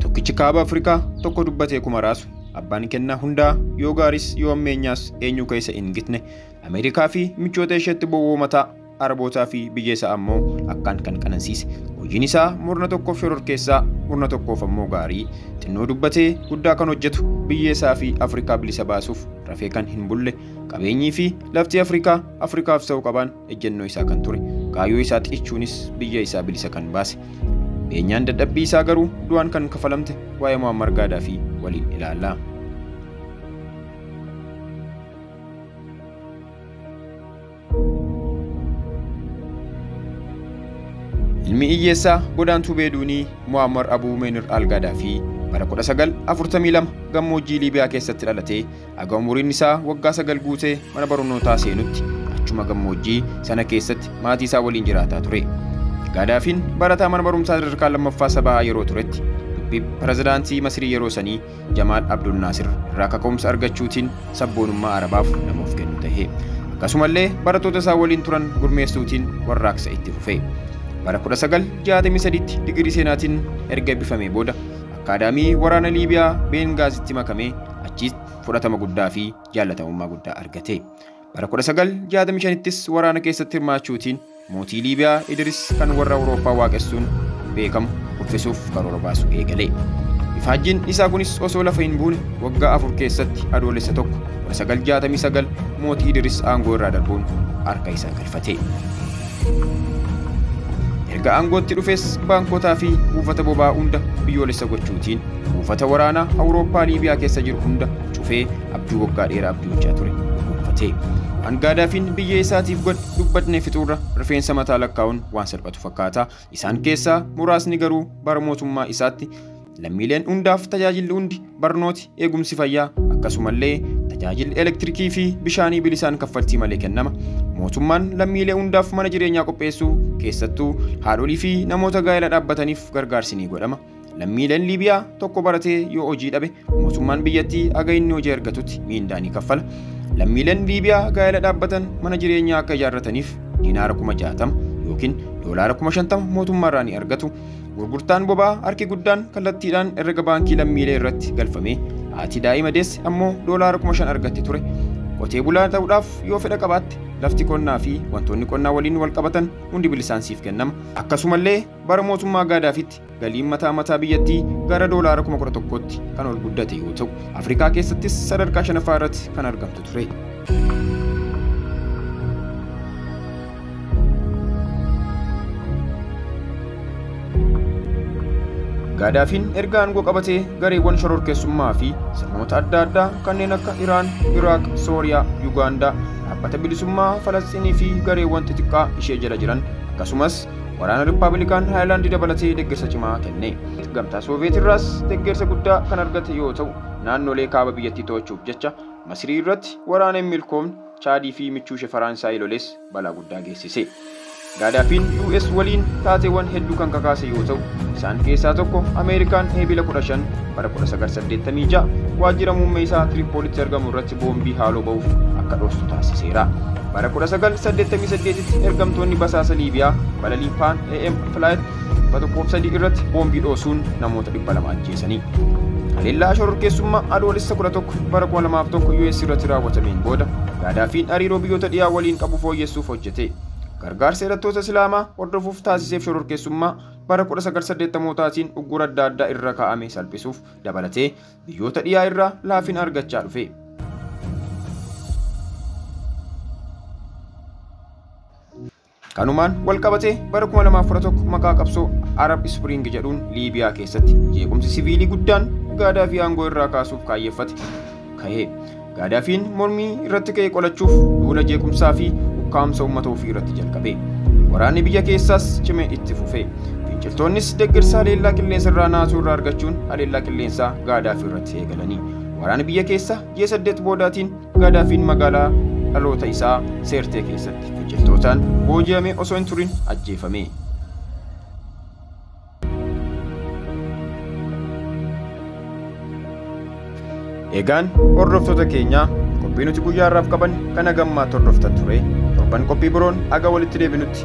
Tokkichi kaaba Afrikaa tokko dubbatee kuma raasu. Abbaan kennaa hundaa yoo gaaris yoo ammeenyaas eenyuu keessa hin gitne. Ameerikaa fi michoota isheetti bowwoomataa Arabootaa fi biyya isaa ammoo akkaan kan qanansiise. Hojiin isaa murna tokkoof shororkeessaa, murna tokkoof ammoo gaarii. Xinnoo dubbatee guddaa kan hojjetu biyya isaa fi Afrikaa bilisa baasuuf rafee kan hin bulle. Qabeenyii fi lafti Afrikaa Afrikaaf ta'u qabaan ejjennoo isaa kan ture kaayoo isaa xiichuunis biyya isaa bilisa kan baase beenyaan dadhabbii isaa garuu du'aan kan kafalamte waa'ee Muammar Gaadaafii waliin ilaalla. Ilmi hiyyeessaa godaantuu Beeduunii Muammar Abuu Meenir Al Gaadaafii bara 1942 gammoojjii Liibiyaa keessatti dhalatee Haga umuriin isaa waggaa sagal guutee mana barnootaa seenutti achuma gammoojjii sana keessatti maatii isaa waliin jiraataa ture. Gaadaafiin barataa mana barumsaa sadarkaa lammaffaa sabaa yeroo turetti dubbii pirezidaantii Masirii yeroo sanii Jamaal Abdul Naasir irraa kaka'umsa argachuutiin sabboonummaa Arabaaf nama of kennu tahe. Akkasumallee barattoota isaa waliin turan gurmeessuutiin warraaqsa itti fufe. Bara 1963tti digirii seenaatiin erga eebbifamee booda akkaadaamii waraana Liibiyaa Beengaazitti makamee Achiis fudhatama guddaa fi jaallatamummaa guddaa argate. Bara 1965ttis waraana keessatti hirmaachuutiin mootii Liibiyaa Idiris kan warra Awurooppaa waaqessuun beekamu kuffisuuf karoora baasuu eegale. Ifaajjiin isaa kunis osoo lafa hin buune waggaa afur keessatti adoolessa tokko 1969 mootii Idiris aangoo irraa darbuun harka isaa galfate. Erga aangootti dhufes baankotaa fi buufata boba'aa hunda biyyoolessa gochuutiin buufata waraanaa Awurooppaa Liibiyaa keessa jiru hunda cufee abjuu waggaa dheeraa abjuuchaa ture dhuunfatee. Waan Gaadaafiin biyya isaatiif godhe dubbatnee fixuurra rifeensa mataa lakkaa'uun waan salphatu fakkaata. Isaan keessaa muraasni garuu bara mootummaa isaatti Lammiileen hundaaf tajaajilli hundi barnooti, eegumsi fayyaa akkasumallee tajaajilli elektirikii fi bishaanii bilisaan kaffaltii malee kennama. Mootummaan lammiilee hundaaf mana jireenyaa qopheessuu keessattuu haadholii fi namoota gaa'ela dhaabbataniif gargaarsi ni godhama. Lammiileen Liibiyaa tokko baratee yoo hojii dhabe mootummaan biyyattii aga inni hojii argatutti miindaa ni kaffala. Lammiileen Liibiyaa gaa'ela dhaabbatan mana jireenyaa akka ijaarrataniif diinaara kuma jaatama yookiin doolaara kuma shantama mootummaarraa ni argatu. Gurgurtaan boba'aa harki guddaan kallattiidhaan herrega baankii lammiilee irratti galfamee haati daa'ima deesse ammoo doolaara kuma shan argatte ture. Qotee bulaa ta'uudhaaf yoo fedha qabaatte lafti qonnaa fi wantoonni qonnaa waliin wal qabatan hundi bilisaan siif kennama. Akkasumallee bara mootummaa gaadaafitti galiin mataa mataa biyyattii gara doolaara kuma kudha tokkootti kan ol guddate yoo ta'u Afrikaa keessattis sadarkaa shanaffaa irratti kan argamtu ture. Gaadaafiin erga aangoo qabatee gareewwan shororkeessummaa fi sirnoota adda addaa kanneen akka Iraan, Iraaq, Sooriyaa, Yugaandaa, dhaabbata bilisummaa Falasxiinii fi gareewwan xixiqqaa ishee jala jiran akkasumas waraana Rippaabilikaan Haayilaandii dabalatee deeggarsa cimaa kenne. Gamtaa Sooviyeet irraas deeggarsa guddaa kan argate yoo ta'u, naannolee kaaba biyyattii to'achuuf jecha Masirii irratti waraana hin milkoofne Chaadii fi michuushe Faraansaay loles balaa guddaa geessise. Gaadaafiin US waliin taateewwan hedduu kan kakaase yoo ta'u, isaan keessaa tokko Ameerikaan Eebila 15 bara 1986 waajjira muummee isaa Tiripoolitti argamu irratti boombii haaloo ba'uuf akka dhoostu taasiseera. Bara 1988tti ergamtoonni basaasa Liibiyaa balalii Paan AM Flight 103 irratti boombii dhoosuun namoota 200 ajjeesanii. Haleellaa shororkeessummaa Adoolessa 11 bara 2001 US irratti raawwatameen booda Gaadaafiin hariiroo biyyoota dhiyaa waliin qabu fooyyessuuf hojjete. Gargaarsa hidhattoota Islaamaa hordofuuf taasiseef shororkeessummaa bara 1980taatiin uggura adda addaa irra kaa'ame salphisuuf dabalatee biyyoota dhiyaa irraa laafina argachaa dhufe. Kanumaan walqabatee bara 2011 maqaa qabsoo Arab Spring jedhuun Liibiyaa keessatti jeequmsi siviilii guddaan Gaadaafii aangoo irraa kaasuuf kaayyeffate ka'e. Gaadaafiin mormii irratti ka'e qolachuuf duula jeequmsaa fi ukkaamsa uummata ofii irratti jalqabe. Waraanni biyya keessaas cime itti fufe. Finciltoonnis deeggarsa haleellaa qilleensa irraa naasuu irraa argachuun haleellaa qilleensaa Gaadaafii irratti eegalanii. Waraana biyya keessa ji'a saddeet boodaatiin Gaadaafiin magaalaa dhaloota isaa Seertee keessatti finciltootaan booji'amee osoo hin turin ajjeefame. Egaan hordoftoota keenyaa qophii nuti guyyaa har'aaf qaban kana gammaa hordoftan ture torban qophii biroon aga walitti deebinutti